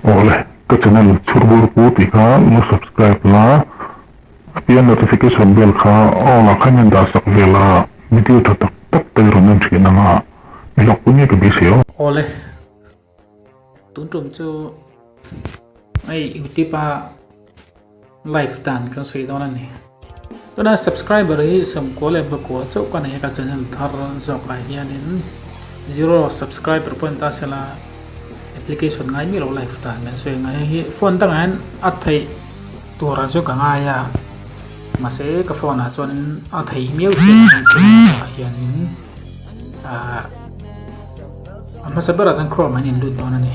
Awh le, ka channel chhur bur pu tih kha la subscribe la, a pian notification bell kha all ah kha in dah sak ve la, video tha tak tak te rawn en thin ang a, i hlawk pui ngei ka bia si aw. Aw le, tun tum chu hei youtube a. Live dan kan sawi dawn a ni. Tuna subscriber hi sawmkua leh bakua chauh ka nei a ka channel thar zawk ah hianin zero subscriber pawhin ka sela application ngai mi lo live dan kan sawi anga hei hi phone dangah hian a theih turah chu ka ngai a mahse ka phone ah chuan a thei miau chin a chungah hianin ahh a hmasa berah chuan chrome ah hian a inlut dawn a ni.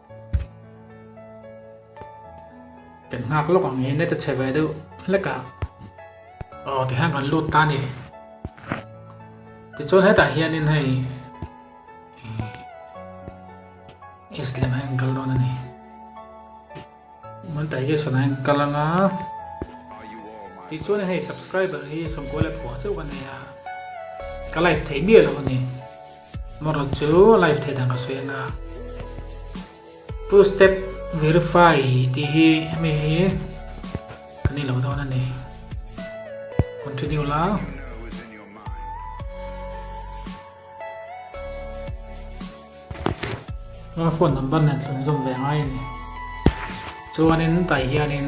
Kan nghak lawk ang hi net a che ve deuh hlek a. Aw tihian kan lut ta a ni. Tichuan hetah hianin hei east lemah hian kal dawn a ni. Mun tai Jesu nain kal anga. Tichuan hei subscriber hi sawmkua leh phua chauh ka nei a. Ka like thei miah lo a ni. Moraw chu live thei dan ka sawi a nia. Two step verify tih hi hemi hi ka nih loh dawn a ni. Continue la. Aa phone number nen thlun zawm ve ngai a ni. Chuanin tah hianin.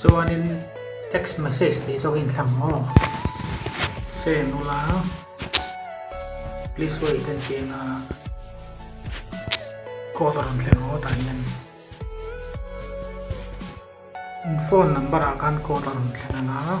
Chuanin text message tih zawk in thlang maw? Send ula, please wait a inti anga code a rawn thlen maw tah hian phone number ah khan code a rawn thlen anga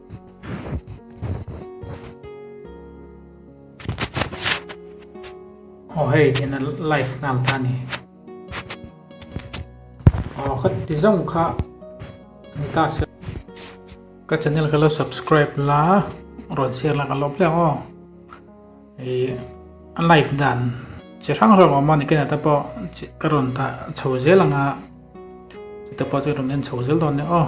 Aw hei ena live nghal ta ni aw khat ti zawng kha ni ta se ka channel ka lo subscribe la rawn share la ka lo tlem aw Ih a light dan chi hrang hrang awm a ni ken ata pawh ka rawn tah chho zel ang a chutah pawh chu i rawn en chho zel dawn nia aw.